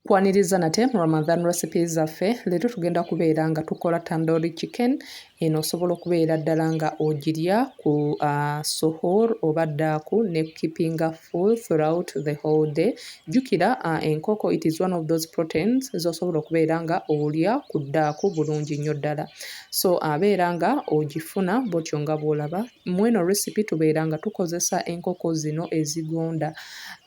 kwaniriza nate mu ramadan recipe zaffe leero tugenda kubeera nga tukola tandori chicken eno osobola okubeera ddala nga ogirya ku uh, suhur oba ddaaku ne keepinga full throughout the whole day jjukira uh, enkoko it is one of those proteins zosobola okubeera nga olya ku ddaaku bulungi nnyo ddala so abeera nga ogifuna bwotyo nga bwolaba Mweno recipe tubeera nga tukozesa enkoko zino ezigonda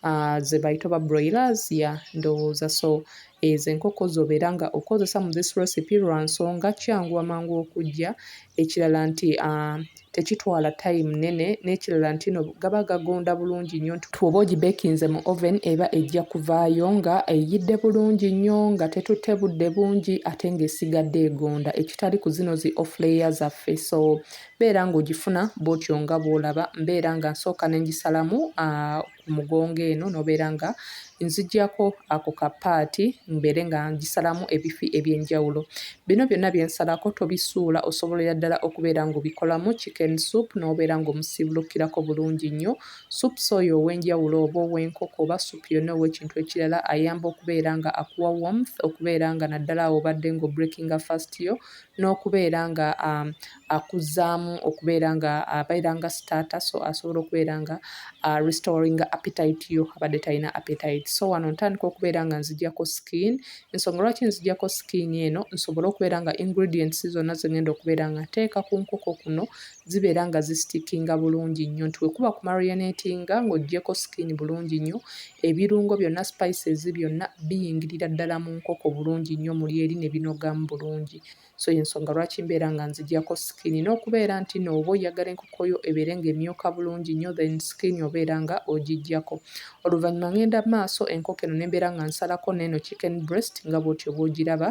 uh, zebayita oba broilers ya ndowooza so ezo enkoko zobeera nga okozesa mu this recipe lwa nsonga kyangu amangu okujja ekirala nti uh, tekitwala time nene n'ekirala nti no gaba gagonda bulungi nnyo nti twoba ogibekinze mu oven eba ejja kuvaayo nga eyidde bulungi nnyo nga tetutte budde bungi ate ng'esigadde egonda ekitali ku zino zi offlayer zaffe so Beera ng'ogifuna bw'otyo nga bw'olaba. Mbeera nga nsooka ne ngisalamu ku mugongo eno n'obeera nga nziggyako ako ka paati mbeere nga ngisalamu ebifi eby'enjawulo. Bino byonna bye nsalako tobisuula osobolera ddala okubeera ng'obikolamu chicken soup n'obeera ng'omusiibulukirako bulungi nnyo. Soups oyo ow'enjawulo oba ow'enkoko oba soup yonna ow'ekintu ekirala ayamba okubeera nga akuwa warmth okubeera nga naddala awo obadde ng'obreakinga fast yo n'okubeera nga akuzzaamu okubeera nga abeera nga starter so asobola okubeera nga restoring appetite yo abadde talina appetite so wano ntandika okubeera nga nzijako skin ensonga lwaki nzijako skin eno nsobole okubeera nga ingredients zonna zengenda okubeera nga nteeka ku nkoko kuno zibeera nga zisitikinga bulungi nnyo nti wekuba ku marionetinga ng'ogyeko skin bulungi nnyo ebirungo byonna spices byonna biyingirira ddala mu nkoko bulungi nnyo muli eri ne binogamu bulungi so yensonga lwaki mbeera nga nzigyako skin n'okubeera nti nooba oyagala enkoko yo ebeere ng'emyuka bulungi nnyo then skin obeera nga ogigyako oluvannyuma ngenda maaso enkoko eno nembeera nga nsalako neeno chicken breast nga bwotyo bwogiraba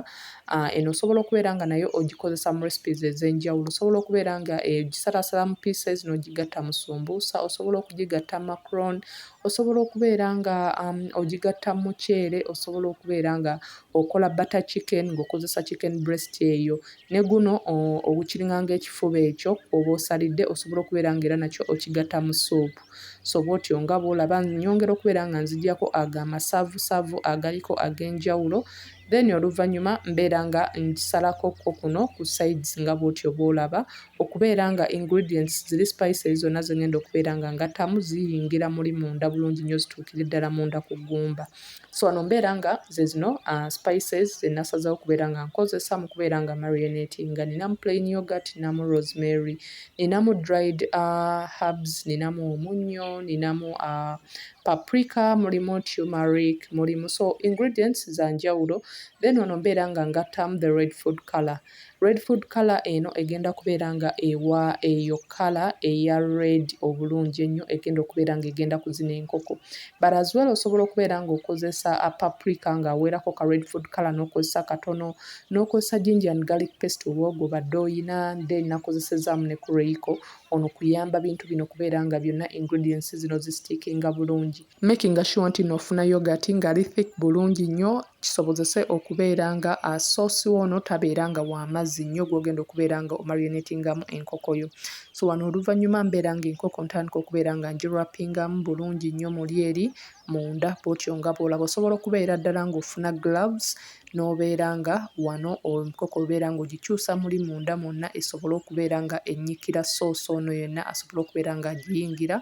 Ah, eno osobola okubeera nga nayo ogikozesa mu recipes ez'enjawulo. Osobola okubeera nga egisalaasala mu pieces n'ogigatta mu sumbuusa, osobola okugigatta mu macron, osobola okubeera nga um, ogigatta mu muceere, osobola okubeera nga okola butter chicken ng'okozesa chicken breast eyo. Ne guno ogukiringa ng'ekifuba ekyo oba osalidde, osobola okubeera nga era nakyo okigatta mu suupu. So bw'otyo nga bw'olaba nyongera okubeera nga nzigyako ago amasavusavu agaliko ag'enjawulo Then oluvanyuma mbeera nga ngisalako ko kuno ku sides nga bwotyo bwolaba okubeera nga ingredients ziri spices zonna zengenda okubeera nga ngattamu ziyingira muli munda bulungi nnyo zituukire ddala munda ku ggumba. So wano mbeera nga zezino uh, spices zenasazawo okubeera nga nkozesa mu kubeera nga marinatinga. Ninamu plain yogurt, ninamu rosemary, ninamu dried uh, herbs, ninamu omunnyo, ninamu uh, paprika mulimu tumeric mulimu so ingredients za njawulo then ono mbeera nga ngattamu the red food color red food color eno egenda kubeera nga ewa eyo color eya red obulungi ennyo egenda okubeera nga egenda kuzina enkoko but as well osobola okubeera nga okozesa a paprika nga aweerako ka red food color n'okozesa katono n'okozesa ginger and garlic paste oba ogoba dde oyina then nakozesezaamu ne kureiko ono kuyamba bintu bino kubeera nga byonna ingredients zino zi stickinga bulungi. Makinga sure nti no ofuna yogurt nga ali thick bulungi nnyo kisobozese okubeera nga a sauce wo ono tabeera nga wa mazzi nnyo gwogenda okubeera nga omarionatingamu enkoko yo. So wano oluvannyuma mbeera nga enkoko ntandika okubeera nga ngi wrappingamu bulungi nnyo muli eri munda bwotyo nga bwolaba osobola okubeera ddala ng'ofuna gloves n'obeera nga wano omukoko obeera ng'ogikyusa muli munda mwonna esobole okubeera nga ennyikira soosi ono yenna asobole okubeera ng'agiyingira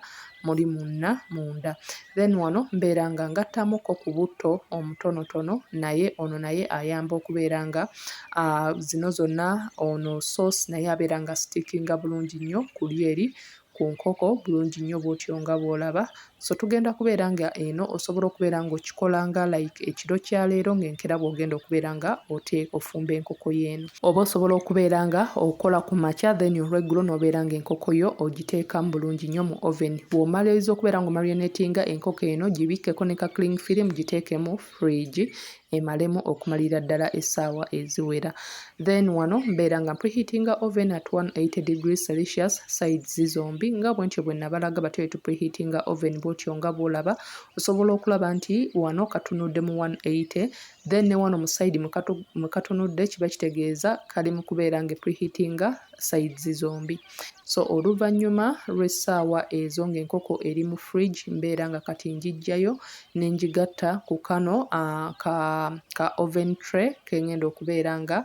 muli munna munda then wano mbeera nga ngattamukko ku butto omutonotono naye ono naye ayamba okubeera nga zino zonna ono soosi naye abeera nga sitiikinga bulungi nnyo ku lyeri ku nkoko bulungi nnyo bwotyo nga bwolaba so tugenda kubeera nga eno osobola okubeera nga okikola nga like ekiro kya leero nga enkera bwogenda okubeera nga ote ofumba enkoko yeeno oba osobola okubeera nga okola ku makya then olweggulo nobeera nga enkoko yo ogiteekamu bulungi nnyo mu oven bwomaliriza okubeera nga omarionatinga enkoko eno gibikkeko ne ka cling film giteekemu fridge emalemu okumalira ddala essaawa eziwera then wano mbeera nga preheatinga oven at 180 degrees celsius sides zombi nga bwentyo bwe nabalaga batyo etu preheatinga oven bwotyo nga bwolaba osobola okulaba nti wano katunudde mu 180 then ne wano mu side mwe katunudde kiba kitegeeza kali mu kubeera nga preheatinga sides zombi so oluvannyuma lw'essaawa ezo ng'enkoko eri mu fridge mbeera nga kati ngiggyayo ne ngigatta ku kano uh, ka, ka oven tray ke ng'enda okubeera nga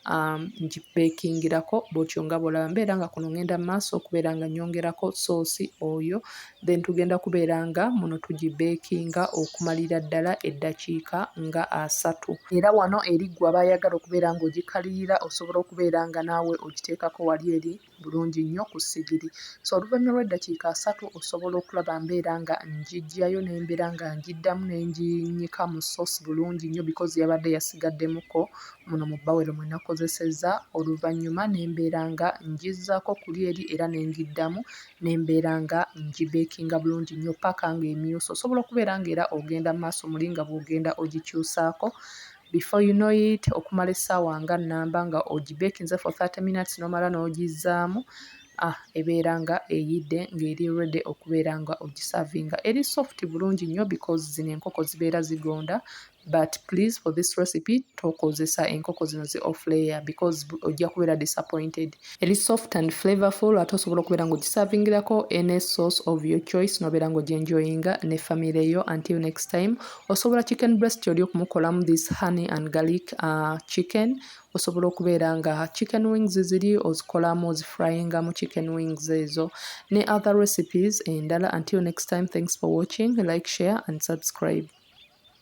um, ngibeekingirako bwotyo nga bwolaba mbeera nga kuno ng'enda mu maaso okubeera nga nyongerako soosi oyo then tugenda kubeera nga muno tugibeekinga okumalira ddala eddakiika nga asatu era wano eri ggwe aba ayagala okubeera ng'ogikalirira osobola okubeera nga naawe ogiteekako wali eri bulungi nnyo ku ssigiri so oluvannyuma lw'eddakiika asatu osobola okulaba mbeera nga ngiggyayo ne mbeera nga ngiddamu ne nginyika mu sosi bulungi nnyo bikozi yabadde yasigaddemukko muno mu bawero mwe nakozesezza oluvannyuma ne mbeera nga ngizzaako kuli eri era ne ngiddamu nembeera nga ngibekinga bulungi nnyo paka nga emyuuse osobola okubeera nga era ogenda maaso muli nga bwogenda ogikyusaako before you know it okumala essaawa nga namba nga ogibekinze for 30 minutes nomala n'ogizaamu ah, ebeera nga eyidde ng'eri ready okubeera nga ogisavinga eri soft bulungi nnyo because zino enkoko zibeera zigonda but please for this recipe tokozesa enkoko zino zi off layer because ojja kubeera disappointed eri soft and flavorful ate osobola okubeera nga ogisavingirako any source of your choice nobeera nga ojenjoyinga ne family yo until next time osobola chicken breast oli okumukolamu this honey and garlic uh, chicken osobola okubeera nga chicken wings ziri ozikolamu ozifryinga mu chicken wings ezo ne other recipes endala until next time thanks for watching like share and subscribe